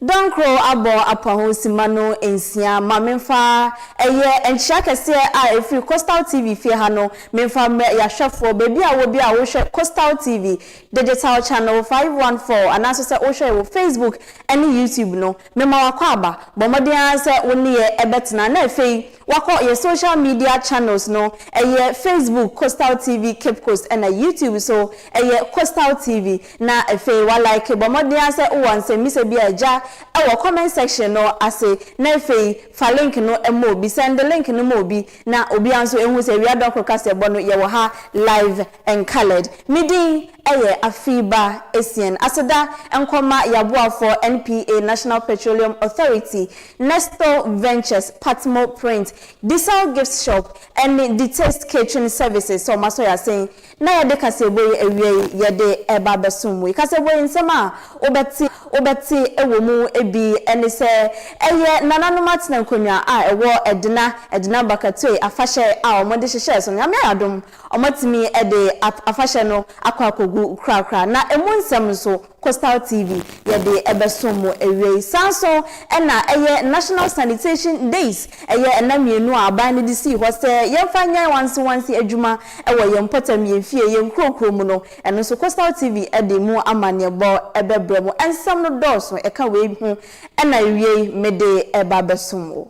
Dɔnkoro abɔ apaho simma no nsia ma menfa ɛyɛ nkyea kɛseɛ a ɛfiri Coastal TV fie ha no menfa mmerɛ yɛahwɛfoɔ baabi a wɔ bia a wohwɛ Coastal TV digital channel 514 anaasɛ sɛ wohwɛ yɛ wɔ Facebook ɛne YouTube no mema wakwaaba bɔ mmɔden ara sɛ wo ne yɛ ɛbɛtena na ɛfei wakɔ yɛ social media channels no ɛyɛ Facebook Coastal TV Cape Coast ɛna YouTube so ɛyɛ Coastal TV Na afei wa like bɔ mmɔden ara sɛ wowɔ nsɛmmisa bi a agya wɔ comment section no ase na afei fa link no ma obi sɛnde link no ma obi na obiara nso ɛhu sɛ awia dɔnko kaseɛbɔ no yɛwɔ ha live and coloured me din yɛ Afiiba Asian aseda nkɔma yaboafoɔ NPA National Petroleum Authority Nesto Ventures Patmo Print Disal Gift Shop ɛne Detaste Catering Services sɛ ɔma sɔ yasen na yɛde kaseɛbɔ yi awia yi yɛde reba abɛsom wo. Kaseɛbɔ yi nsɛm a wobɛte wobɛte wɔ mu bi ne sɛ, ɛyɛ nananom atena nkonnwa a ɛwɔ Edna Edna Bakatue afahyɛ a wɔde hyehyɛɛ so no. Nyame ayɛ adom wɔatumi de afahyɛ no akɔ akɔgu korakora na ɛmu nsɛm nso Coastal TV yɛde ɛbɛsom mo awiei. Saa nso na ɛyɛ National Sanitation Days, ɛyɛ nna mmienu a aban no de sii hɔ sɛ yɛmfa nyɛ wansewanse adwuma wɔ yɛn mpɔtam, yɛn fie, yɛn nkurokuro mu no, ɛno nso Coastal TV de mu amanneɛbɔ bɛbrɛ mo. Nsɛm no dɔɔso, ɛka wei ho na awiei mede ɛba abɛsom wo.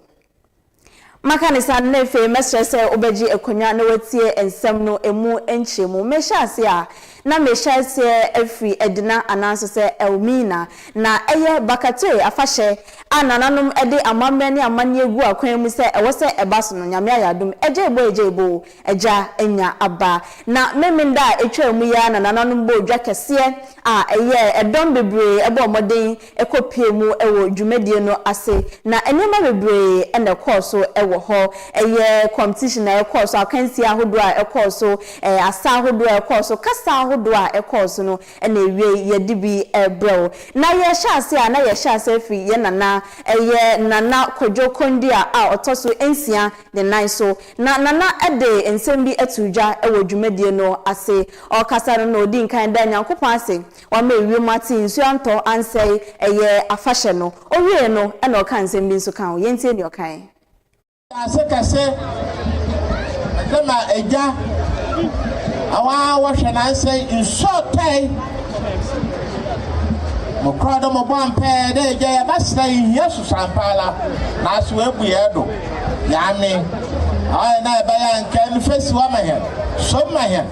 Maka no saa no, na afei mɛsrɛ sɛ wobɛgye akonnwa na woatie nsɛm no emu nkyerɛmu. Merehyɛ ase a, na merehyɛ aseɛ afiri Edna ananso sɛ Elmina. Na ɛyɛ Bakatoe afahyɛ a nananom de amammerɛ ne amanneɛ gu akwan mu sɛ ɛwɔ sɛ ɛba so no, Nyame ayɛ adom, agyaiboo agyaiboo, Agya anya aba. Na Memeneda a etwaa mu yi ara na nananom bɔɔ dwa kɛseɛ a ɛyɛɛ dɔm bebree bɔɔ mmɔden kɔpuee mu wɔ dwumadie no ase. Na nneɛma bebree na ɛkɔɔ so wɔ hɔ. Ɛyɛ competition a ɛkɔɔ so, akansie ahodoɔ a ɛkɔɔ so, asa ahodoɔ a ɛkɔɔ so, kasa ahodoɔ a ɛkɔɔ so no na ɛwiei yɛde bi rebrɛ wo. Na yɛrehyɛ aseɛ a na yɛhyɛ aseɛ firi yɛn nana, ɛyɛ Nana Kwadwo Kondia a ɔtɔ so nsia ne nan so. Na Nana de nsɛm bi too dwa wɔ dwumadie no ase. Ɔrekasa no na ɔdii nkan daa Nyankopɔn ase, wama ewiem ate, nsuo antɔ, ansɛe, ɛyɛ afahyɛ no. Ɔwiee no na ɔkaa nsɛm bi nso kaa ho. Yɛntie deɛ ɔkaeɛ. Wiase kɛse no na agya awa wɔhwɛ nansɛe nsɔɔtae mo korɔ do mo bɔ ampɛɛ dɛ agya yɛbɛsrɛ yɛhia susuampaala naaso wɛbu yɛɛ do. Nyaame, ɔyɛ na ɛbɛyɛ a nka nfasuwa ma hɛn, som ma hɛn,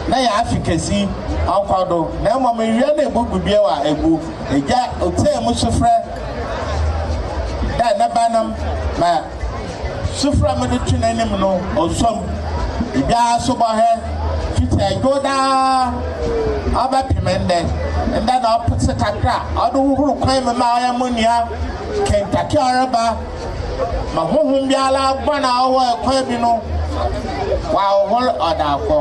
na yaafi kesi ɔnkɔ do, na mbom ewia na ebubu bio a egu. Egya otsie mo sufrɛ dɛ ne ba no ma sufrɛ mode to n'enyim no osom. Egya asubɔhɛ fitsi edwow daa ɔbɛpem ndɛ. Ndɛ na ɔpetse kakra a ɔde hohor kwan mu ma ɔyɛ mo nua kentake a ɔreba. ma honhom biara guan a ɔwɔ ɛkwan bi no wɔahohor ɔda akɔ.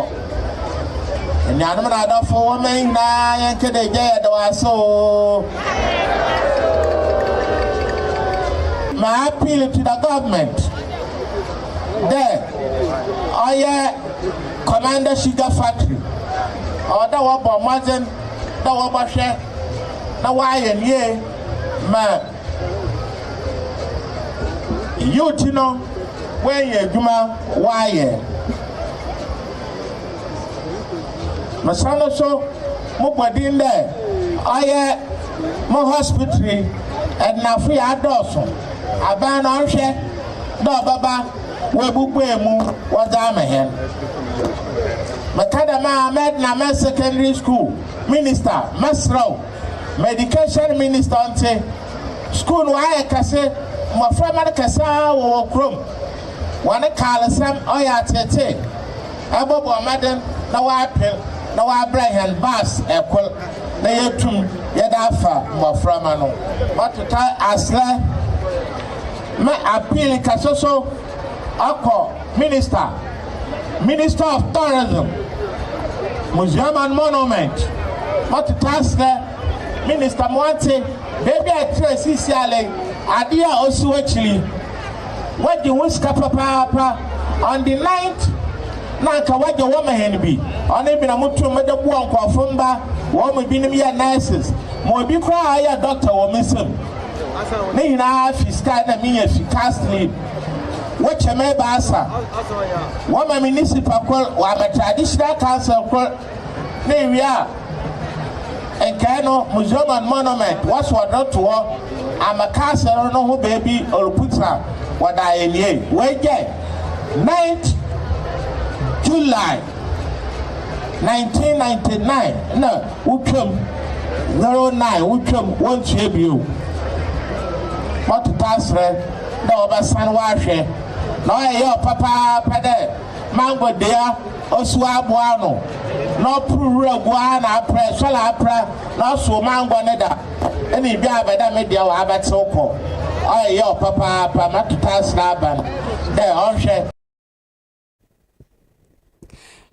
Anuanom na adɔfo wɔ mɛn nyinaa yɛn kɛdɛ gya yɛ dɔw ase o. My appeal to the government dɛ ɔyɛ Commander Sugar Factory ɔwɔ dɛ wɔbɔ mmɔdzen dɛ wɔbɔhwɛ na wɔayɛ nie ma Eyi nti no, woanya adwuma woayɛ. Mesa no so mobɔ din dɛ ɔyɛ mo hospitri ɛdenafo yɛ adɔɔso aban no ɔnhwɛ dɛ ɔbɛba wɔabubue mu wɔdze ama hɛn. Meka dɛm a mɛdena mɛ secondary school minister mɛserɛ wo. Ma education minister nte, school no ayɛ kɛse, mmɔframma no kɛse ara wɔ wɔn kurom. Wɔne Carlsam ɔyɛ ateetee, ɛbɔbɔ mmɔden na wɔapem na wɔabrɛ hɛn bus kor na yetum yɛdze afa mmɔframma no. Matotar aserɛ me apii kɛse so akɔ. Minister, Minister of Tourism, Museum and Monument, ɔtete aseɛ, Minister Moante, baabi a ɛtrɛ sisi alɛn, adeɛ a ɔsi wakyiri, wagye ho sika papaapa, on the ninth, na anka wagye wɔn hɛn bi, ɔne bi na mo tum de boa nkurɔfo mba, wɔn mu binom yɛ nurses, ma obi koraa yɛ doctor wɔ me nsam, ne nyinaa fi sika na menya fi cast leave. Wokyɛ me ebiasa. Wɔma me nisipa kor, wɔama traditional council kor, na ewie a, nkae no museum and monument wɔsoa do to hɔ ama castle no ho beebi oruputsena wɔ da a ewiei. Woegyae. 9th July 1999 na wotwa mu, 09 wotwa mu, wonntua bio. Mɔtoto aserɛ. dɛ wɔbɛsan wɔahwɛ na ɔyɛ yaw papaapa dɛ mango dua osuo abow ano na ɔpor wura gu ara na aprɛ sɔl aprɛ na ɔsow mango no da na idua abɛ dɛ me dua wɔabɛtsew kɔ. Ɔyɛ yaw papaapa ma totaasera aban dɛ ɔnhwɛ.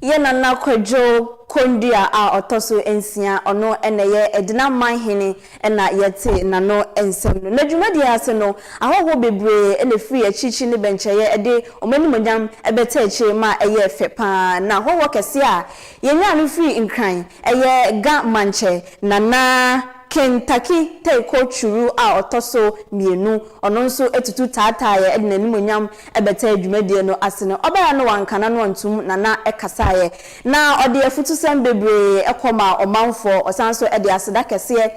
Yɛn Nana Kwadwo Kondua a ɔtɔ so nsia, ɔno na ɛyɛ Edina Manhene na yɛte n'ano nsɛm no. N'adwumadie ase no, ahɔhoɔ bebree na ɛfiri akyirikyiri ne bɛnkyɛeɛ de wɔn animuonyam bɛtaa akyire ma ɛyɛɛ fɛ pa ara. Na hɔhoɔ kɛseɛ a yɛnyaa no firii Nkran yɛ Ga Mankyɛ, Nana Kintaki Teiko Churu a ɔtɔ so mmienu, ɔno nso tutu taataaeɛ de n'animuonyam Ɛbɛtɛɛ dwumadie no ase no, ɔbaa a na wanka n'ano antom na na ɛkasaeɛ, na ɔde afutusɛm bebree kɔ maa ɔmanfoɔ. Ɔsan nso de aseda kɛseɛ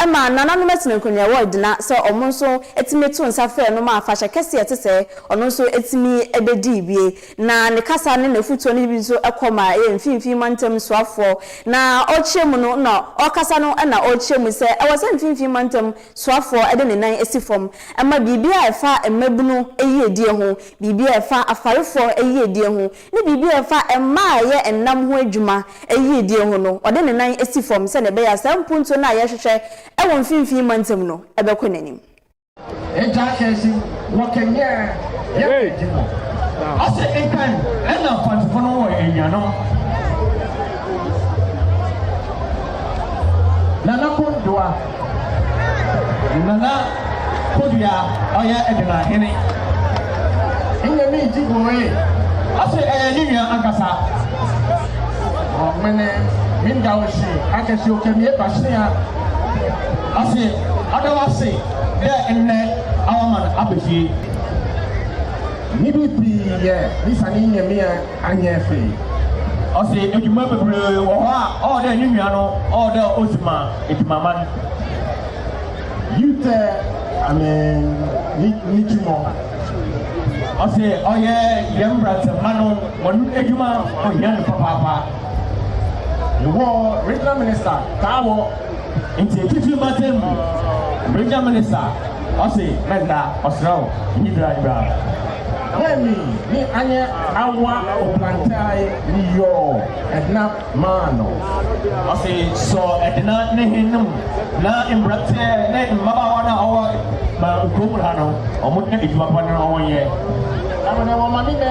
maa nananom atenankonnwa a ɛwɔ Edna sɛ wɔn nso tumi too nsa frɛɛ no maa afahyɛ kɛseɛ a ɛte sɛɛ ɔno nso tumi bɛdii bie. Na ne kasa ne n'afutuo no bi nso kɔ maa ɛyɛ mfinfii mantam soafoɔ. Na ɔrekyerɛ mu no na ɔrekasa no na ɔrekyerɛ mu sɛ ɛwɔ sɛ mfinfii mantam soafoɔ de ne nan si fam ma biribi a ɛfa mmabunu yiedie ho, biribi a ɛfa afarefoɔ yiedie ho, ne biribi a ɛfa mmaa a ɛyɛ nnam ho adwuma yiedie ho no, ɔde ne nan si fam sɛdeɛ ɛbɛyɛ a saa mpuntuo no a yɛrehwehwɛ wɔ mfimfini mantam no bɛkɔ n'anim. Agya Akansi wɔ Kenya yɛ bɛdi mu. Ɔsɛ Ekan ɛna mfantefo no wɔ anuanom. Nana Kondoa. Nana Kodua ɔyɛ Edema hene. Nyɛ me nti goe. Ɔse ɛyɛ ne nua ankasa. Ɔmene me nda wo hye akɛse okɛ me epa hyea. Ɔse ɔda wase dɛ nnɛ awama no aba fie. Nidi pii yɛ ne sane nyɛ me a. Annyɛ hwee. Ɔse edwuma beberee wɔ hɔ a ɔwɔ dɛ ne nua no ɔwɔ dɛ odzi ma edwumaman. You tɛ ame ne ne twumɔ. Ɔse ɔyɛ yɛn mbrantseɛmba no hɔn edwuma ohia no papaapa. Ewɔ regional minister taa wɔ. Ntsi etsitsir m'atsɛn mu, Bregya me ne sa, ɔse mɛnda, ɔserɛ wo, nyi bra, nyi bra. Hwɛ me ne anyɛ awa oplantae ne yɔɔ ɛdena maa no. Ɔse sɔ ɛdena ne he no mu na mberantsɛ ne mbabaawa no a ɔwɔ ma nkurow mu ha no, ɔmo nyɛ edwuma pa na ɔmo nyɛ. Ɛwɔ dɛ wɔma ne mɛ.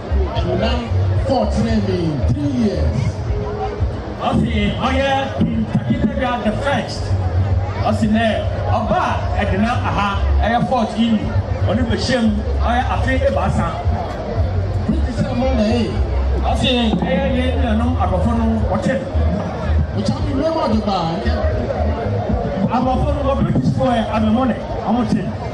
Nana four tene me three years. Ɔsi ɔyɛ pin takitagya the first. Ɔsi nɛ ɔba ɛdena aha ɛyɛ fort ini ɔne bɛhyɛm ɔyɛ afe ebaasa. Pretty sɛ mo na ee. Ɔsi ɛyɛ yɛ nuanom abɔfo no ɔkyɛ. Ɔkyɛ mi mɛmɔ de ba nkɛ. Abɔfo no wɔ British foɔ ɛ abɛmɔ nɛ ɔmo kyɛ.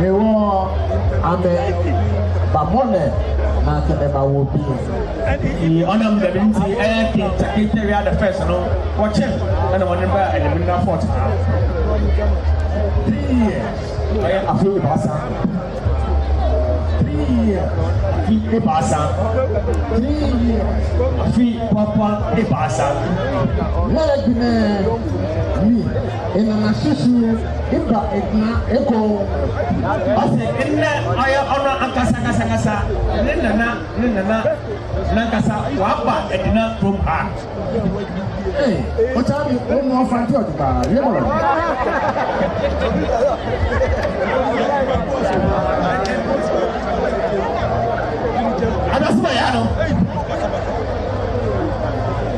Mewɔ amɛ ba mɔnɛ na sɛ mɛ ba wɔ bi. Nti ɔnam dɛm nti ɛyɛ kenta kenta wia the first no wɔkyɛn ɛna wɔn ba ɛdɛm na fɔt ha. Three years ɛyɛ afei de baasa. Three years afi de baasa. Three years afi papa de baasa. Lɛɛdinɛ mi ɛnana susu. Eba Edna Ekong, ɔse nnɛ ɔyɛ ɔno ankasa ankasa ankasa ne nana ne nana nankasa waba Edna kurom ha. Ee, ɔtaa bi ɔmu ɔfa nti ɔde baa yɛ bɔlɔ. Adasoma ya no.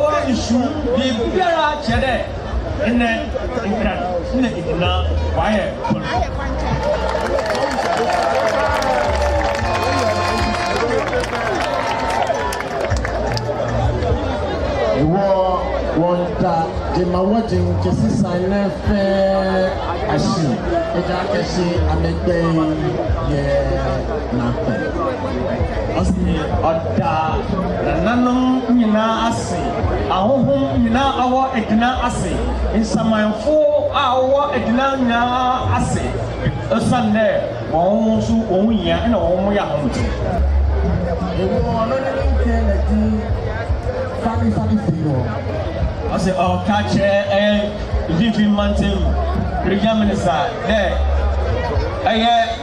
Wɔ nsu mu biribiara kyerɛ dɛ ndɛ nkran na egyina ɔayɛ kwan. Wɔ wɔ nta dze ma wɔ dze nkesi san nɛ fɛ ahyi egya kɛsi amɛgbɛn yɛ. Na hwɛ, ɔse ɔda nananom nyinaa ase, ahonhom nyinaa a wɔwɔ adina ase, nsamanfo a wɔwɔ adina nyinaa ase, osiane dɛ hɔn so hɔn hia na hɔn yɛ ahomtse. Ewɔ ɔno ne ne nkyɛn na di fani fani fi no. Ɔse ɔka kyerɛ ɛyɛ mfinfin mantam region minister dɛ ɛyɛ.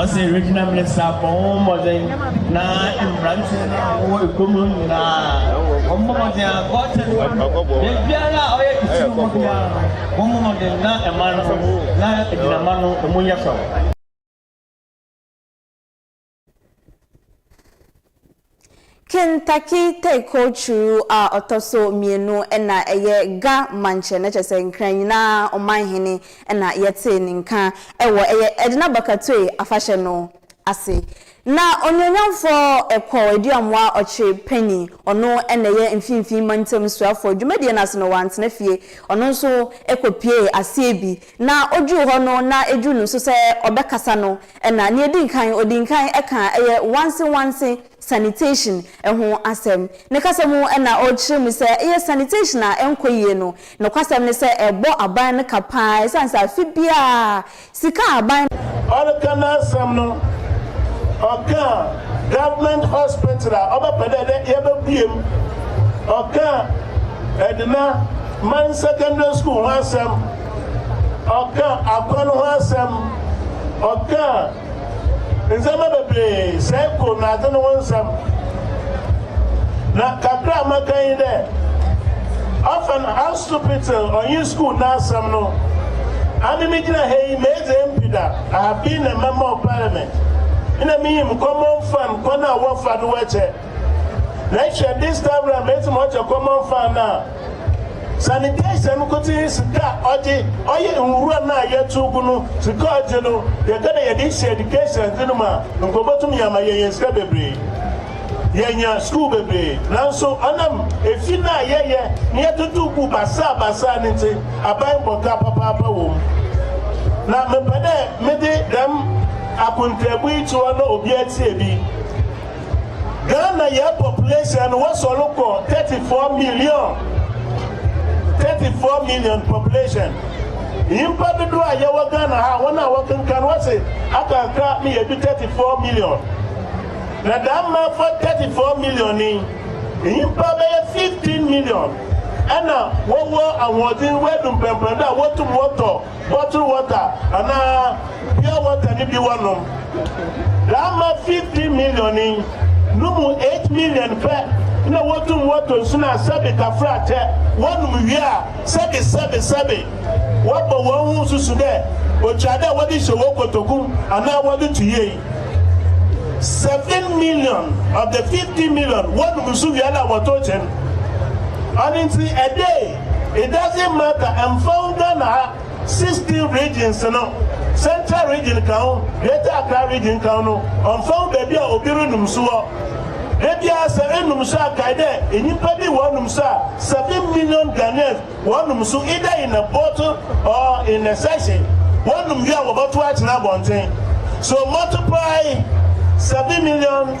Ɔse Regional Minister bɔ ho mmɔden na mmranteɛ no a wɔwɔ ekuo mu no nyinaa wɔn mmɔ mmɔden a gɔɔtɛn baabiara a ɔyɛ kɛse no mu biara no wɔn mmɔ mmɔden na ɛman no na agyinama no emu nyɛ fɛw. Kentucky Tayko Churu a ɔtɔ so mmienu na ɛyɛ Ga Mankyɛ no kyerɛ sɛ Nkran nyinaa Ɔmanhene na yɛtee ne nka wɔ ɛyɛ Edna Bakatue afahyɛ no ase. Na Onuonyamfoɔ Ekwaw Aduamoa Ɔkye Penny ɔno na ɛyɛ Mfimfini Mantam Suafoɔ dwumadie no ase no wantena fie ɔno nso kɔpiee aseɛ bi. Na oduu hɔ no na eduu no nso sɛ ɔbɛkasa no na nea edi nkan odii nkan kaa ɛyɛ wansi wansi sanitation ho asɛm. Ne kasa mu na ɔrekyerɛ mu sɛ ɛyɛ sanitation a ɛnkɔ yie no nokwasɛm ne sɛ ɛbɔ aban no ka paa ɛsiane sɛ afe biara sika a aban. Ɔreka n'asɛm no ɔkaa government hospital a ɔbɛpɛ dɛ dɛ yɛbɛbue mu, ɔkaa Edina Mine Secondary School ho asɛm. ɔka akwan ho asɛm, ɔka ndzɛmba beberee, cycle na adze no ho nsɛm. Na kakra a maka nye dɛ, ɔfa no Hanszupitel ɔnye skuul n'asɛm no, ame migyina ha yi medze MP da, ahabii na mɛma ɔpae me, nna minyim common fund kwan a wɔfa do wɛkyɛ. Let's share this time round mesi mo ɔkyɛ common fan na sanitation no kote sika ɔgye ɔyɛ nwura no a yɛto gu no sika ɔgye no yɛka na yɛde hyɛ education dze no mu a nkɔbɔtumi ama yɛyɛ sika bebree yɛnya sukuu bebree nanso ɔnam efi no a yɛyɛ ne yɛtoto gu basaa basaa no nti aban bɔka papaapa wɔ mu na mepɛ dɛ mede dɛm akontaabu yi kyewa na obi atie bi Ghana yɛ population no wasɔre kɔ 34 million 34 million population nyimpa dodoɔ a yɛwɔ Ghana ha wɔn a wɔkenkan wɔse aka kakra ma yɛdu 34 million na daa mma fa 34 million ni nyimpa bɛyɛ 15 million ɛna wɔwɔ ahoɔdzen wɔadu mpɛmpɛndo a wɔtum wɔtɔ bottle water anaa pure water no bi wɔnom. Dza ama fifteen million yi no mu eight million pɛ na wotum wɔtɔ nsu no a sɛbe tafrakyɛ wɔnom wie a sɛbe sɛbe sɛbe wɔbɔ hɔnho susu dɛ otwar dɛ wɔdze hyɛ hɔn kotoku anaa wɔdze to yie. Seven million of the fifteen million wɔnom nsu wie a na wɔtow kyen. Ɔno ntsi ɛdee It doesn't matter, ɛmfa ho Ghana ha sixteen regions no, Central region ka ho, Greater Accra region ka ho no, ɔmfa ho baabi a obi renum so wɔ. Da biara sɛ enum so a kae dɛ nyimpa bi wɔnum so a seven million Ghanaians wɔnum so either in a bottle or in a sachet. Wɔnum wie a wɔbɔtow akyena abɔntsen. So multiply seven million.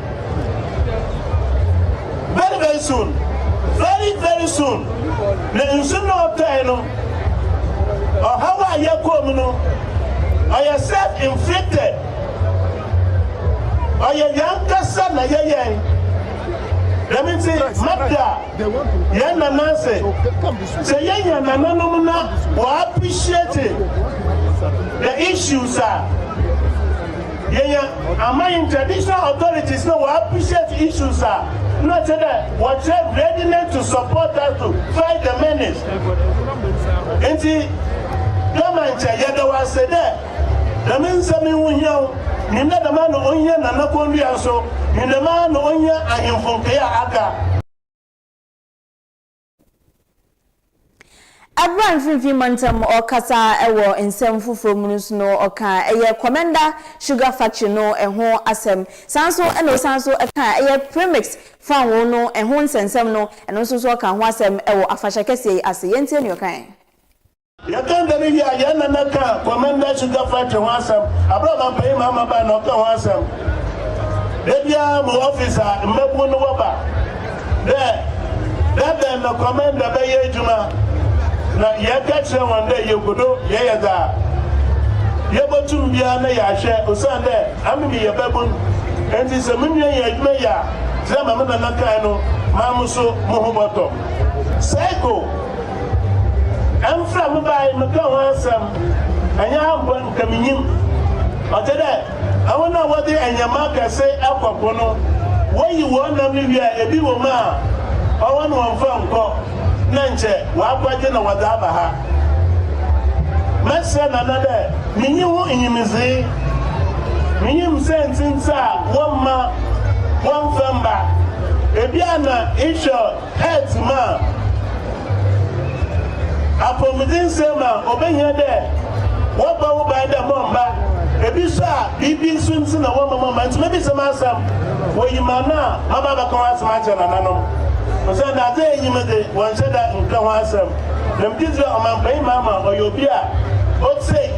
Very very soon. Very very soon. Na nsu na ɔtɔe no. Ɔhaw a yɛkɔɔ mu no, ɔyɛ self inflicted. Ɔyɛ yɛn kasa na yɛ yɛn. Dɛm nti, mada yɛn nana ase. Sɛ yɛnya nananom na wɔappreciate the issues a Yenya ama hɛn traditional authorities na wɔ appreciate issues a nna ɔsɛ dɛ wɔkyerɛ readiness to support us to fight the menace. Ntsi Dama nkyɛ yɛda wo ase dɛ dɛm nsɛm yi ho hia wo. Nyim dɛ dɛmara na ohia Nana Konduah so, nyim dɛmara na ohia ahemfo nkae a aka. Bere a Mfinimfini Mantam rekasa wɔ nsɛm foforo mu no nso no, ɔkaa ɛyɛ Komenda Sugar Factory no ho asɛm. Saa ara nso na ɔsan nso kaa ɛyɛ Premix Fangoo no ho nsɛnsɛm no, ɛno nso nso ɔkaa ho asɛm wɔ afahyɛ kɛseɛ yi ase. Yɛntie nea ɔkae. Yɛka da no wie a, yɛn nana ka Commander Sugar Factory ho asɛm, bere a Ɔmampanyin Mahama bae na ɔka ho asɛm. Da biara mo office a mmabun no wɔba dɛ da bɛn na Commander bɛyɛ adwuma, na yɛka kyerɛ hɔn dɛ yekodo yɛyɛ dza yebotum biara na yɛahwɛ, osiandɛ ame meyɛ babun, ntsi sɛ mo nua nnyɛ edwuma yie a, dza ma me nana kae no, maa mo so moho bɔtɔ. Cycle. Ɛmfra me bae mekã ho asɛm, ɛnyɛ ha mpo anka minyim. Ɔtse dɛ hɔn a wɔdze ndzɛmba akɛse kɔ po no, woyi hɔn nam no wie a, bi wɔ mu a ɔwɔ no wɔmmfa nnkɔ na nkyɛ wɔakɔgye na wɔdze aba ha. Mɛserɛ Nana dɛ minyi ho nyimdzee. Minyim siantsir ntsi a wɔmma wɔmmfa mmba. Bi a na ehwɛ. Hɛt ma a, apɔwmuden sɛɛ ma obehia dɛ wɔbɔ wo ban dɛ mɔmba. Bi so a, biribi so ntsi na wɔmma mɔmba. Ntsi mebisa mu asɛm, woyi m'ano a, maba abɛka ho asɛm akyerɛ nananom? Osiandɛ adze a enye me dze, wɔnnhyɛ da nnka ho asɛm. Na megye dzi dɛ ɔmampanyin Mahama ɔyɛ obi a otsie.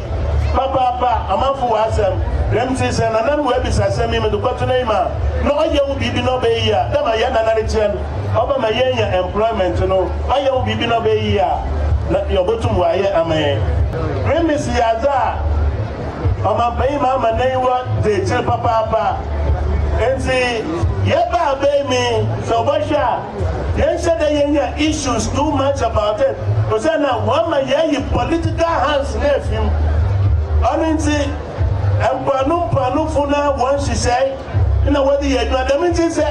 Papaapa, amanfo wɔ asɛm. Dɛm ntsi sɛ Nana no oebisa asɛm yi, medze kɔto n'enyim a, na ɔyɛ wo biribi na ɔbɛyɛ yie a, dɛ ma hɛn Nana no kyerɛ no, ɔbɛma yeenya employment no, ɔyɛ wo biribi na ɔbɛyɛ yie a, na dza obotum ɔayɛ ama hɛn. Remisi yɛ adze a ɔmampanyin ma ama n'enyiwa dzi ekyir papaapa. Ntsi yɛbaa bɛn mi sɛ ɔbɔhwɛ a. Yɛnhyɛ da yɛnya issues too much about it osian na wɔama yɛayi political hands no efi mu. Ɔno ntsi mpoano mpoanofo no ara hɔn nhyehyɛe na wɔdze yɛ edwuma. Dɛm ntsi sɛ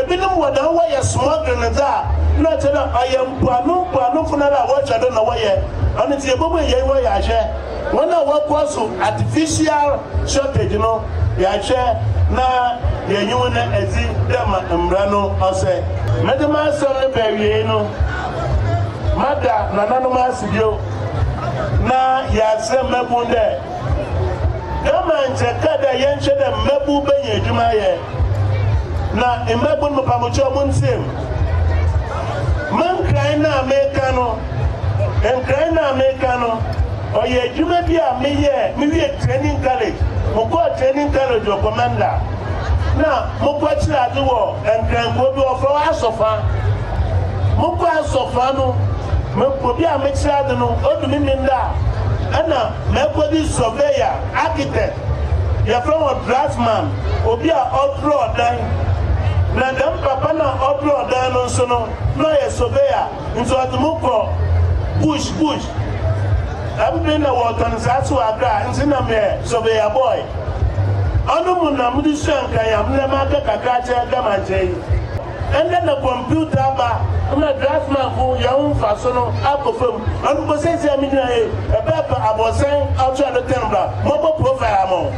binom wɔ dɛm wɔyɛ smuggling no dze a, nna ɔkyerɛ dɛ ɔyɛ mpoano mpoanofo no ara a wɔhwɛ do na wɔyɛ. Ɔno ntsi yebobuei hɛn hɔ yɛahwɛ. Wɔn a wɔakoa so artificial shortage no yɛahwɛ na yɛnye hɔn edzi dɛ ma mbra no ɔsɛ. Medze m'asɛm no ba ewiei no, mada nananom ase bio na yɛaserɛ mbabun dɛ, dɛ ma nkyɛ kã dɛ yɛnhwɛ dɛ mbabun benya edwuma ayɛ na mbabun mepa mo kyɛw monntsia mu. Mo nkran no a mekã no, Nkran no a meka no, ɔyɛ adwuma bi a meyɛɛ mewie training college. Mokɔɔ training college wɔ Komanda na mokɔkyerɛ ade wɔ Nkran kurow bi wɔfrɛ hɔ Asɔfa. Mokɔ Asɔfa no, obi a mekyerɛ ade no, odu me mene da a, ɛna makɔdi surveyor, architect, yɛfrɛ wɔn draftsman, obi a ɔdrɔɔ dan. Na dɛm papa no a ɔdrɔɔ dan no nso no, na ɔyɛ surveyor. Nti ɔdze mo kɔ bush bush. Dɛm ber na wɔtɔn nsaase wɔ Accra ntsi nna meyɛ surveyor boy. Ɔno mu na medze sua nkanyam na makã kakra akyerɛ Gamankyɛ yi. Ndɛ na computer aba ma draftmanfo hɛn ho mfaso no akɔ famu. Ɔno mpo sesei a migyina ha yi, mebɛpɛ abɔrsan ato do tɛn bra mɔbɔ profile ama wo.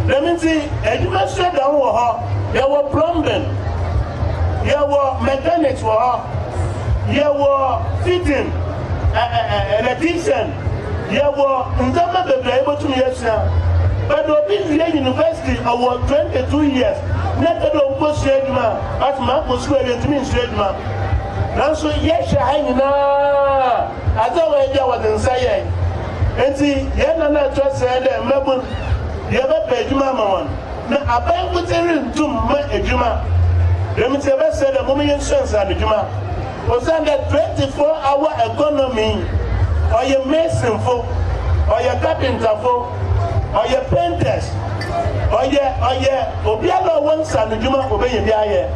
Dɛm ntsi edwuma sua da ho wɔ hɔ. Yɛwɔ plumbing, yɛwɔ mechanics wɔ hɔ, yɛwɔ fitting, electrician, yɛwɔ ndzɛmba bebree a yebotum yesua. But obi wie university ɔwɔ 22 years na epɛ dɛ okosua edwuma a, but makɔ skuul a yenntumi nnsua edwuma. Naaso yɛhwɛ ha nyina adze a wɔyɛ bi a wɔdze nsa yɛe. Ntsi hɛn nã no a ɛtɔ ase a yɛdɛ mbabun yɛbɛpɛ edwuma ama hɔn. Na abankotse runntum mma edwuma, dɛm ntsi yɛbɛserɛ dɛ mom yensuasua no edwuma, osiandɛ twenty four hour economy yi, ɔyɛ masonfo, ɔyɛ carpenterfo, ɔyɛ painters, ɔyɛ ɔyɛ obiara a ɔwɔ nsanodwuma obenya bi ayɛ.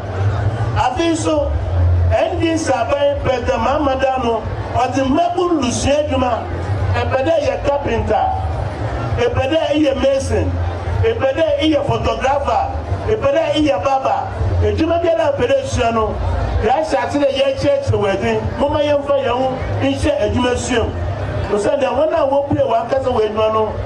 Afei so, NDC aban President Mahamadar no, Ɔdze mbabun rusua edwuma, epɛ dɛ eyɛ carpenter, epɛ dɛ eyɛ mason, epɛ dɛ eyɛ photographer, epɛ dɛ eyɛ barber, edwuma biara a epɛ dɛ esua no, yɛahyɛ ase dɛ yɛrekyerɛkyerɛ wo edze. Momma yɛmfa hɛnho nhyɛ edwuma sua mu, osiandɛ hɔn a wobue hɔnankasa hɔn edwuma no,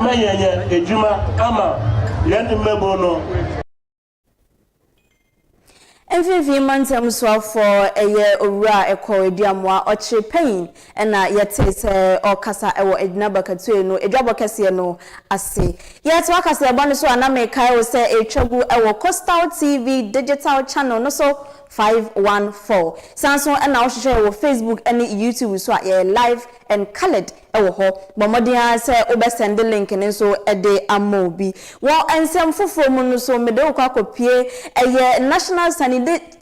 ma yɛnyɛ adwuma ama yɛn mmabun no. Mfinfini mantam soafoɔ yɛ owura a ɛkɔɔ Aduamoa ɔkyere pɛn na yɛtee sɛ ɔrekasa wɔ Adwina Bakatue no adwabɔ kɛseɛ no ase. Yɛtoa kaseɛbɔ no so a na mekae wo sɛ ɛretwa gu wɔ Coastal TV digital channel no so 514. San so na wohwehwɛ yɛn wɔ Facebook ne YouTube so a yɛyɛ live and coloured. wɔ hɔ. Bɔ mmɔden ara sɛ wobɛsɛnde link no nso de ama obi. Wɔ nsɛm foforɔ mu no nso, mede wo kɔ akɔpue ɛyɛ National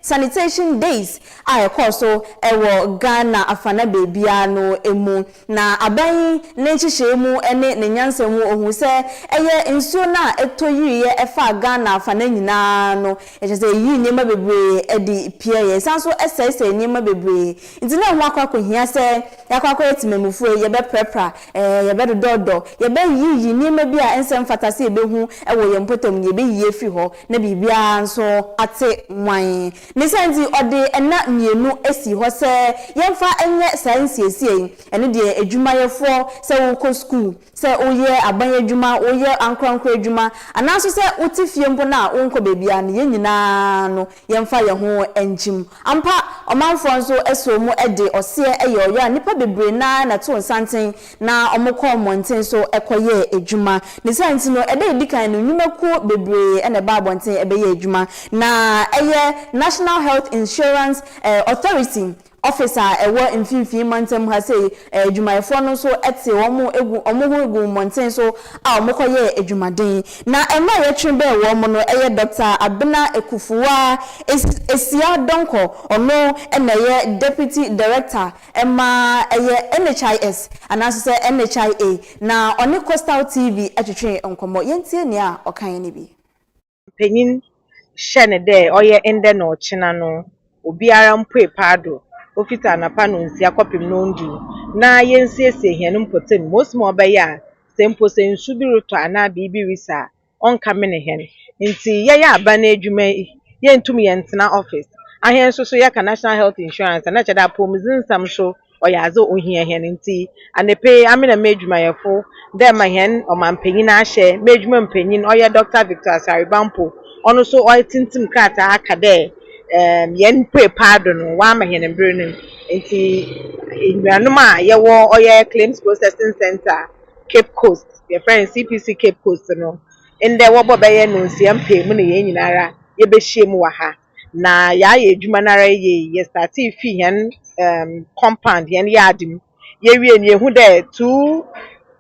Sanitation Days a ɛkɔɔ so wɔ Ghana afana baabiara no mu. Na aban yi ne nhyehyɛeɛ mu ne ne nyansa mu ɔhuu sɛ ɛyɛ nsuo no a ɛtɔ yiriiɛ ɛfaa Ghana afana nyinaa no, kyerɛ sɛ ɛyii nneɛma bebree de piaeɛ. Ɛsan nso sɛesɛee nneɛma bebree. Nti na ɛho akɔ akɔhia sɛ Yɛakɔ akɔyɛ temamufoɔ yi, yɛbɛprapra, ɛɛ, yɛbɛdodɔɔdɔ, yɛbɛyiyiyi nneɛma bi a ɛnsɛ mfata sɛ yɛbɛhu wɔ yɛn mpɔtam no, yɛbɛyiyi afiri hɔ, na biribiara nso ate mwann. Ne saa nti, ɔde nna mmienu sii hɔ sɛ yɛmfa nyɛ saa nsiesieɛ yi. Ɛno deɛ, adwumayɛfoɔ, sɛ worekɔ sukuu, Sɛ woyɛ aban adwuma, woyɛ ankorankoro adwuma, anaa nso sɛ wote fie mpo na wonkɔ baabiara no, yɛn nyinaa no, yɛmfa yɛn ho nkyem. Ampa, ɔmanfoɔ nso sɔɔ mu de ɔseɛ yɛɛ ɔyɔ a nnipa bebree no ara na ɛtoo nsanten na wɔkɔɔ mmɔnten so kɔyɛɛ adwuma. Ne saa nti no, ɛda a ɛdi kan no, nnwumakuo bebree na ɛbaa abɔnten bɛyɛɛ adwuma. Na ɛyɛ National Health Insurance Authority Office a ɛwɔ mfimfini mantam ha sei, adwumayɛfoɔ no nso te wɔn gu wɔn ho gu mmɔnten so a wɔkɔyɛɛ adwumaden. Na mma a yɛtwe bɛn wɔn no yɛ Doctor Abena Akufuwa Asia Donkor, ɔno na ɛyɛ Deputy Director ma ɛyɛ NHIS anaa nso sɛ NHIA, na ɔne Coastal TV twetwee nkɔmmɔ. Yɛntie nea ɔkaeɛ no bi. mpanyin hyɛ no dɛ ɔyɛ ndɛ na ɔkyena no, obiara mpuei paado, ofitsi anapa nonsia kɔpem nondu, na yensiesie hɛn mpɔtamu ma osi ma ɔbɛyɛ a sɛ mpo sɛ nsu bi rotɔ anaa biribi risi a, ɔnnkamenee hɛn. Ntsi yɛyɛ aban edwuma yi, yenntum yɛnntsena office. Ahɛn so so yɛka National Health Insurance a, nna kyerɛ dɛ apɔwmudzensɛm so ɔyɛ adze ohia hɛn ntsi, anapa yi ame na m'edwumayɛfo dɛ ma hɛn ɔmampanyin ahyɛ m'edwuma mu panyin ɔyɛ Dɔkta Victor Asare-Bampo, ɔno so ɔatsintsim krataa aka dɛ hɛn pue paa do no ɔama hɛn mber no ntsi enuanom a yɛwɔ ɔyɛ Claims Processing Centre Cape Coast, yɛfrɛ no CPC Cape Coast no, ndɛ wɔbɔ bɛyɛ Nonsia mpaamu na hɛn nyinara yɛbɛhyia mu wɔ ha. na yɛayɛ edwuma no ara yie. Yɛstartee fii hɛn ɛɛm compound, hɛn yard mu. Yewie no yehun dɛ two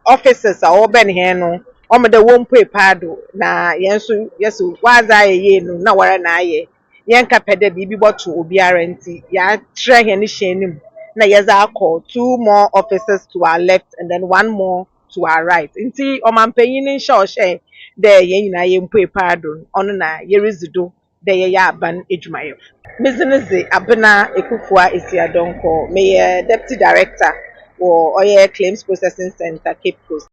offices a ɔwɔbɛn hɛn no, ɔama dɛ wommpuei paado, na hɛn so yɛse wɔadze ayɛ yie no na woara na ayɛ. Yɛnnkɛpɛ dɛ biribi bɔto obiara ntsi yɛatrɛ hɛn hyɛn no mu na yɛdze akɔ two more offices to our left and then one more to our right. Ntsi ɔmampanyin no nhyɛ a ɔhyɛe dɛ hɛn nyina yempuei paado no, ɔno na yeridzi do. dɛ yɛyɛ aban edwumayɛfo. Medze no dze Abena Ekufuaa Esia Donkor, meyɛ Deputy Director wɔ ɔyɛ Claims Processing Centre, Cape Coast.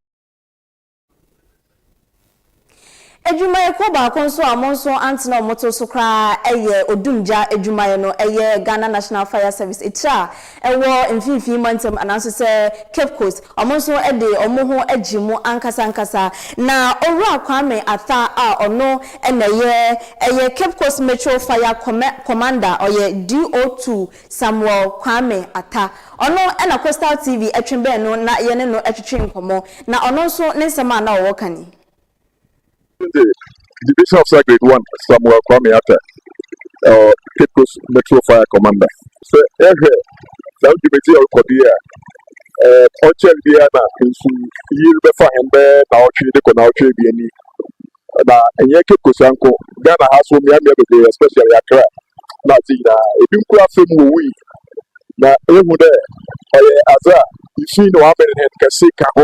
Edwumayɛkuo baako nso a ɔmo nso antena ɔmo to so koraa yɛ odumgya edwumayɛ no, ɛyɛ Ghana National Fire Service, etire a ɛwɔ mfimfini mantam anaasɛ sɛ Cape Coast, wɔn nso de wɔn ho agye mu ankasa ankasa. Na Owura Kwame Atha a ɔno na ɛyɛ ɛyɛ Cape Coast Metro Fire Commɛ Commander, ɔyɛ DO2 Samuel Kwame Atha, ɔno na Coastal TV twe bɛn no na yɛne no twetwe nkɔmmɔ, na ɔno nso ne nsɛm a na ɔwɔ ka ni. This is the division officer grade one Samuel Kwame Atta, uh, Cape Coast Metro Fire Commander. Sɛ ɛhwɛ saa dwumadzi a ɔkɔ do yɛ a, ɛɛ ɔkyɛn biara na nsu yiri bɛfa hɛn bɛyɛ naawɔtwe de kɔ naawɔtwe ebien ni. Na ɛnyɛ Cape Coast anko, Ghana ha so mmeammea bebree especially Accra na adze nyinaa. Ebi mpo afa mu wowui. Na ehu dɛ ɔyɛ adze a nsu yi na wɔamɛn hɛn kɛse ka ho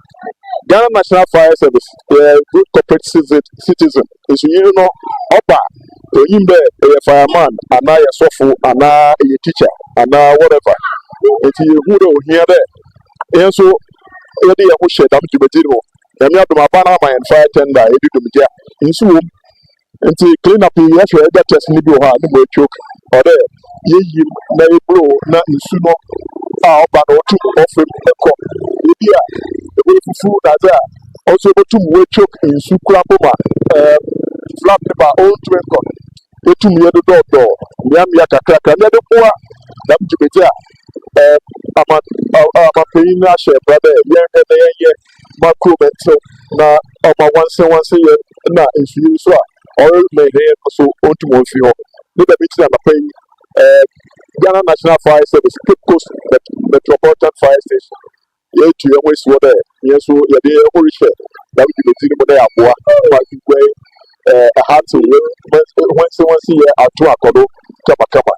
Ghana National Fire Service yɛ good corporate citizen nso yiri no ɔba onyim dɛ ɔyɛ fireman anaa yɛ sɔfo anaa yɛ teacher anaa whatever nti yɛhu dɛ ohia dɛ yɛn nso yɛde yɛn ho hyɛ dɛm dwumadzi no mu nyame adom aban ama yɛn fire tender yɛde dwumadzi a nsu wɔ mu Nti clean up yi yɛhwɛ ɛda test no bi wɔ hɔ a ne mu atwok ɔ dɛ yɛyi mu na yɛburo na nsu no a ɔba no ɔtu mu ɔfɛ mu ɛkɔ ebi a ɛbɛyɛ fufu na adze a ɔso ɛbɛtu mu atwok nsu kura bɔ mu a ɛɛ flap ne ba ɔntu ɛnkɔ no ɛtu mu yɛ dodɔdɔ mmeammea kakrakra na ɛde boa dɛm dwumadzi a ɛɛ ama amanpanyin no ahyɛ mbra dɛ yɛnhwɛ na yɛnyɛ ma kurom ntew na ɔma nwansenwanse yɛ na nsuyiri nso a ɔremɛnhɛn no so ontu wɔn mfi hɔ. Ne dɛm ntsi na anapa yi ɛɛ Ghana National Fire Service Cape Coast Met Metropolitan Fire Station yeetu hɛn ho esi hɔ dɛ hɛn so yɛdze hɛn ho rehyɛ dɛm dwumadzi no mu na yɛaboa ma nsukuan ɛɛ ahatsew yɛ nwansenwanse yɛ ato akɔ do kamakama.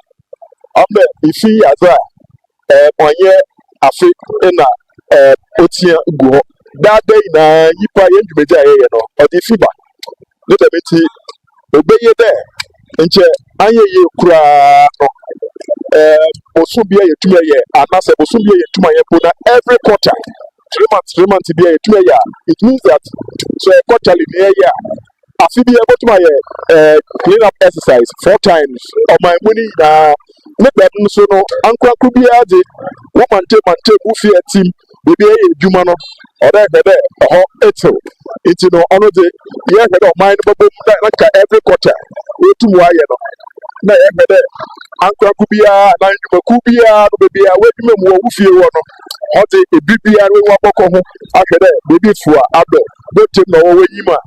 Ɔno dɛ ifi adze a ɛɛ ɔnyɛ afe na ɛɛ otia gu hɔ daa da nyinaa nyimpa yɛn dwumadzi a yɛyɛ no ɔdze fi ba ne dɛm ntsi obeye dɛ nkyɛ anyɛ yie koraa no ɛɛ bosoom bi a yɛtumi ayɛ anaasɛ bosoom bi a yɛtumi ayɛ mpo na every quarter three months three months bi a yɛtumi ayɛ a it means that sɛ quarterly na yɛyɛ a afe biara bɛtumi ayɛ ɛɛ clean up exercise four times ɔman mu no nyinaa ne dɛm nso no ankorankoro biara de wo mante mante wo fie atim baabi a ɛyɛ adwuma no ɔdɛ hwɛ dɛ ɛhɔ ɛtew nti no ɔno de yɛhwɛ dɛ ɔman no bɛbɔ mu na na nka every quarter wɔtum ayɛ no na yɛhwɛ dɛ ankorankoro biara na nnwumakuw biara no baabi a wɔadwuma mu wɔ wo fie wɔ no ɔde ebi biara wɔabɔkɔ ho ahwɛ dɛ baabi fua adɔ abotire mu na ɔwɔ w'enyim a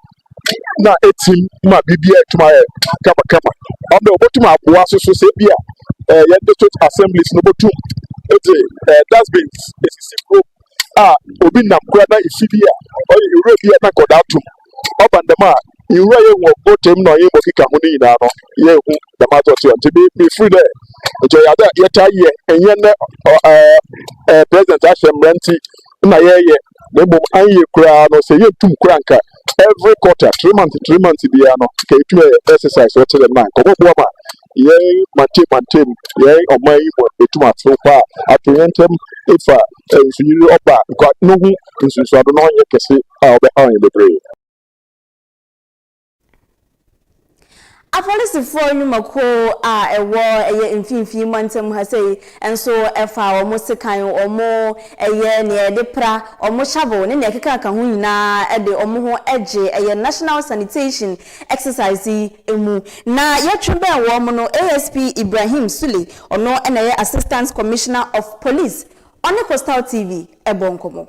na etsim ma biribiara etum ayɛ kamakama ɔno dɛ obotum aboa soso sɛ bi a ɛɛ yɛn district assemblies no botum edze ɛɛ dustbins esisi kurom a obi nam kura na efi bi a ɔyɛ ewura bi a na nkɔda atum ɔba ndɛm a nwura yɛ wɔ abotire mu na ɔyɛ bɔkeka ho ne nyinaa no yɛ ehu dɛm adze ɔtse ɔnte bi bi firi dɛ nkyɛ yɛ adze a yɛtaa yɛ ɛnyɛ nɛ ɛɛ ɛɛ president ahyɛ mbra ntsi na yɛyɛ. na mmom anyɛ koraa no sɛ yɛntum koraa nka every quarter three months three months biara no nka yɛtumi ayɛ exercise wɔkyɛ dɛm na nkɔmmɔboa ma yɛn mante mantem yɛn ɔman yi mu ɛtum ato hɔ a ato yɛn ntam ɛfa nsuyiri ɔba nkwa no ho nsunsuado na ɔnyɛ kɛse a ɔbɛhaw yɛn bebree Apolisifoɔ nnwumakuo a ɛwɔ ɛyɛ mfimfini mantam ha sei nso ɛfa wɔn sekan, wɔn ɛyɛ nea yɛde pra, wɔn shovel ne nea ɛkekaka ho nyinaa ɛde wɔn ho ɛgye ɛyɛ National Sanitation Exercise yi ɛmu. Na yɛtwe bɛn wɔn no, ASP Ibrahim Sule, ɔno na ɛyɛ Assistant Commissioner of Police, ɔne Coastal TV ɛbɔɔ nkɔmmɔ.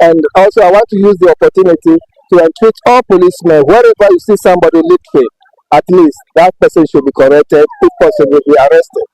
And also, I want to use the opportunity to entreat all policemen, wherever you see somebody littering, at least that person should be corrected, if possible, be arrested.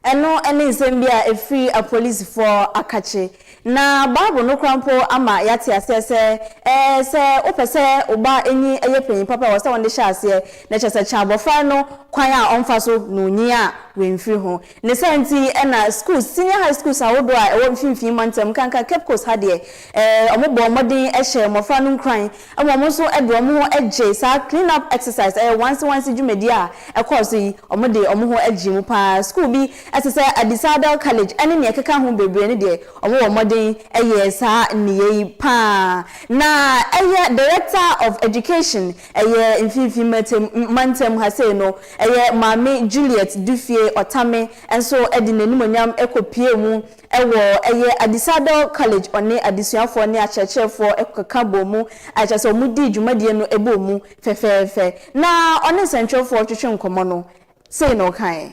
Ɛno ne nsɛm bi a ɛfiri apolisifoɔ akakye. Na Bible no kora mpo ama yɛate aseɛ sɛ ɛɛ sɛ wopɛ sɛ wo ba nyi yɛ panyin papa wɔ sɛ wɔn de hyɛ aseɛ na kyerɛ sɛ kyɛ abɔfra no kwan a ɔmfa so na onyin a wɔmfiri ho. Ne saa nti na schools, senior high schools ahodoɔ a ɛwɔ mfimfini mantam, nkanka Cape Coast ha deɛ, eh, wɔn bɔɔ mmɔden hyɛɛ mmɔfra no nkuran ma wɔn nso de wɔn ho gyee saa clean up exercise, ɛyɛ wansi wansi dwumadie a ɛkɔɔ so yi, wɔn de wɔn ho gyee mu paa. School bi te sɛ Adisa Adel College ɛne nea ɛkeka ho bebree no deɛ, wɔn wɔ mmɔden yɛɛ saa nneyɛɛ yi paa. Na ɛyɛ Director of Education, Ɛyɛ mfimfini mantam mantam ha sei no, ɛyɛ Maame Juliet Dufie Ɔtame nso de n'animuonyam kɔpuee mu wɔ ɛyɛ Adisadel College, ɔne adesuafoɔ ne akyerɛkyerɛfoɔ kɔka bɔɔ mu, a kyerɛ sɛ wɔdii dwumadie no bɔɔ mu fɛfɛɛfɛ. Na ɔne nsɛntwerɛfoɔ retwetwe nkɔmmɔ no, sei na ɔkaeɛ.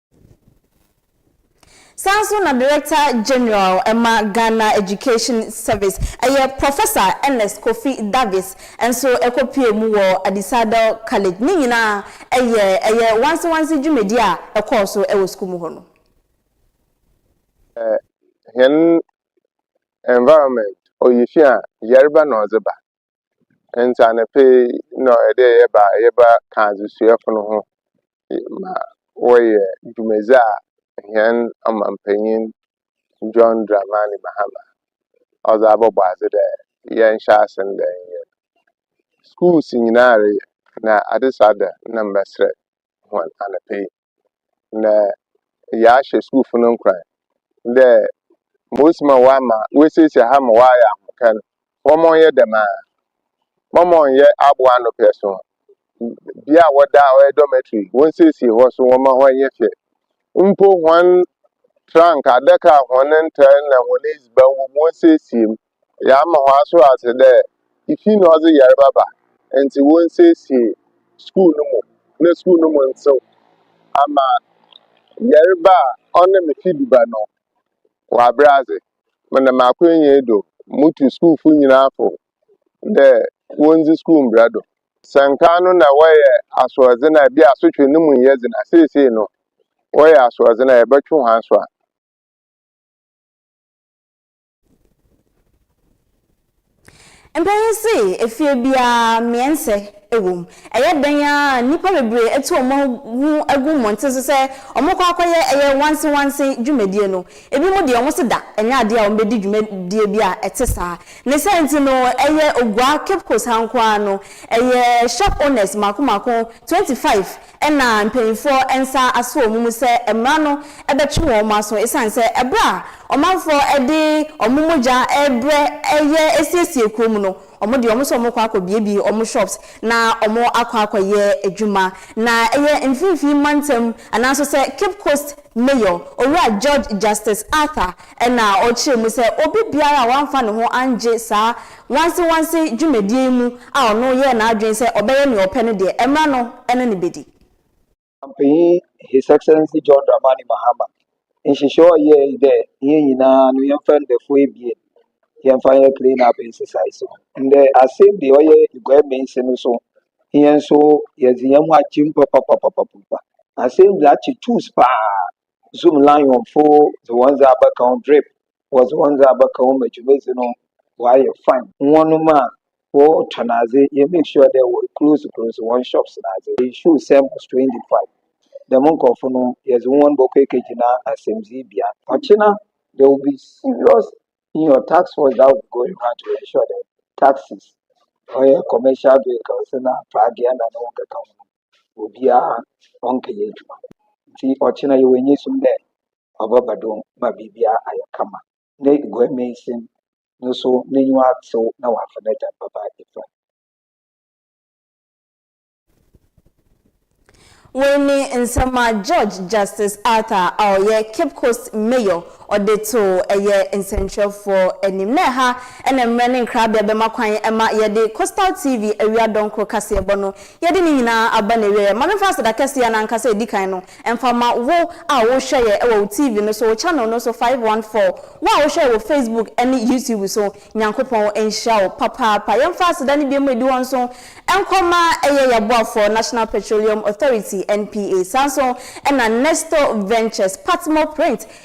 Saa ara nso na Director General ma Ghana Education Service, ɛyɛ Professor Ernest Kofi Davis nso kɔpuee mu wɔ Adisadel College. Ne nyinaa yɛ ɛyɛ wansewanse dwumadi a ɛkɔɔ so wɔ sukuu mu hɔ no. Hɛn environment ɔyɛ fi a yarba na ɔdze ba. Ntsi anapa yi nna ɔyɛ dɛ yɛba a yɛba kã adzesuafo no ho ma wɔyɛ dwumadzi a hɛn ɔmampanyin John Dramani Mahama ɔdze abɔbɔ adze dɛ yɛnhyɛ ase ndɛ nyɛ no. Skuulsn nyina reyɛ na adesua da nna mebɛserɛ hɔn anapa yi. na yɛahyɛ skuulfo no nkuran dɛ mbodzii ma wɔama woesiesie ha ma wɔayɛ ahomka no, wɔma ɔnyɛ dɛm ara. Wɔma ɔnyɛ abowano pɛ so. Bea a wɔda a ɔyɛ dormitory, wonsiesie hɔ so, wɔma hɔ nyɛ fɛ. Mpo hɔn trunk, adaka a hɔn ntar na hɔn edziban wɔ mu, wonsiesie mu. Yɛama wɔasoɛr adze dɛ ifi na ɔdze yarba ba ntsi wonsiesie skuul no mu na skuul no mu ntsew ama yarba a ɔnam ifi do ba no wɔabrɛ adze. Menam m'akwanyi yi do mutu skuulfo nyina fo dɛ wondzi skuul mbra do. Sɛ nkan no nna wɔyɛ asoɛrdzen a bi a asotwe no mu nnyɛ dzen a, sesei no wɔyɛ asoɛrdzen a yɛbɛtwe hɔn aso a. Mpanyin se efie biara mmeɛnsɛ wom. Ɛyɛ dɛn ara a, nnipa bebree atu wɔn ho agu mmɔnten so sɛ wɔkɔ akɔyɛ ɛyɛ wansewanse dwumadie no. Ebinom deɛ wɔse da ɛnyɛ adeɛ a wɔbɛdi dwumadie bi a ɛte saa. Ne saa nti no, ɛyɛ Oguaa, Cape Coast ha nko ara no, ɛyɛ shop owners mmaako mmaako 25 Ɛnna mpanimfoɔ nsa asɔ wɔn mu sɛ mmara no bɛtwe wɔn aso ɛsiane sɛ ɛberɛ a ɔmanfoɔ de wɔn mogya rebrɛ reyɛ asiesie kurom no, wɔde wɔn sɛ wɔrekɔ akɔbuebue wɔn shops na wɔakɔ akɔyɛ adwuma. Na ɛyɛ Mfinfii Mantam anaa nso sɛ Cape Coast Mayor, Owura George Justice Arthur na ɔkyerɛɛ mu sɛ obi biara a wamfa ne ho angye saa Wansewanse dwumadie yi mu a ɔno yɛɛ n'adwene sɛ ɔbɛyɛ nea ɔpɛ no deɛ, ɛmmra no ne no bɛdi. Ɔpanyin His Excellency John Dramani Mahama nhyehyɛɛ a ɔyɛe dɛ hɛn nyina no yɛmfa ndafua ebien yɛmfa nyɛ clean up nsesaees no, ndɛ asen dze ɔyɛ Eguai Meensi no so hɛn so yɛdze hɛnho akyem papapapapapa. Asen dze akye tuuss paa zoom lion fo dze hɔn dze abɛka ho drip wɔdze hɔn dze abɛka ho ma dwumadzi no ɔayɛ fine hɔnom a wɔtɔn adze yɛ make sure dɛ wɔ close close hɔn shops n'adze they show sɛ must to indify dɛm nkɔrfo no yɛdze hɔn bɔkɔ ekegyina asɛmdzii bea ɔkyena there will be serious in your tax force that will be going around to ensure dɛ taxes ɔyɛ commercial vehicles na pragea na no ho nkeka ho no obiara ɔnnkɛyɛ edwuma. Ntsi ɔkyena yɛwɔ enyisum dɛ ɔbɛba do ma biribiara ayɛ kama. Na Eguamansin no so n'enyiwa atsew na ɔafa n'egya no bɛba Efraim. Wei ne nsɛm a Judge Justice Arthur a ɔyɛ Cape Coast Mayor ɔde too ɛyɛ nsɛnkyerɛfoɔ anim. Na ɛha na mmrɛ ne nkrabea bɛma kwan ma yɛde Coastal TV awia dɔnkoro kaseɛbɔ no Yɛde ne nyinaa aba n'awieɛ. Ma memfa aseda kɛseɛ no ankasa a ɛdi kan no mfa ma wo a wohwɛ yɛ wɔ wo TV no so, wo channel no so, five one four, wo a wohwɛ yɛ wɔ Facebook ne YouTube so, Nyankopɔn nhyira wo papaapa. Yɛmfa aseda no binom a ɛdi hɔ nso nkɔ ma ɛyɛ yɛaboafoɔ National Petroleum Authority, NPA, saa nso na Nestor Ventures, Patmore Print,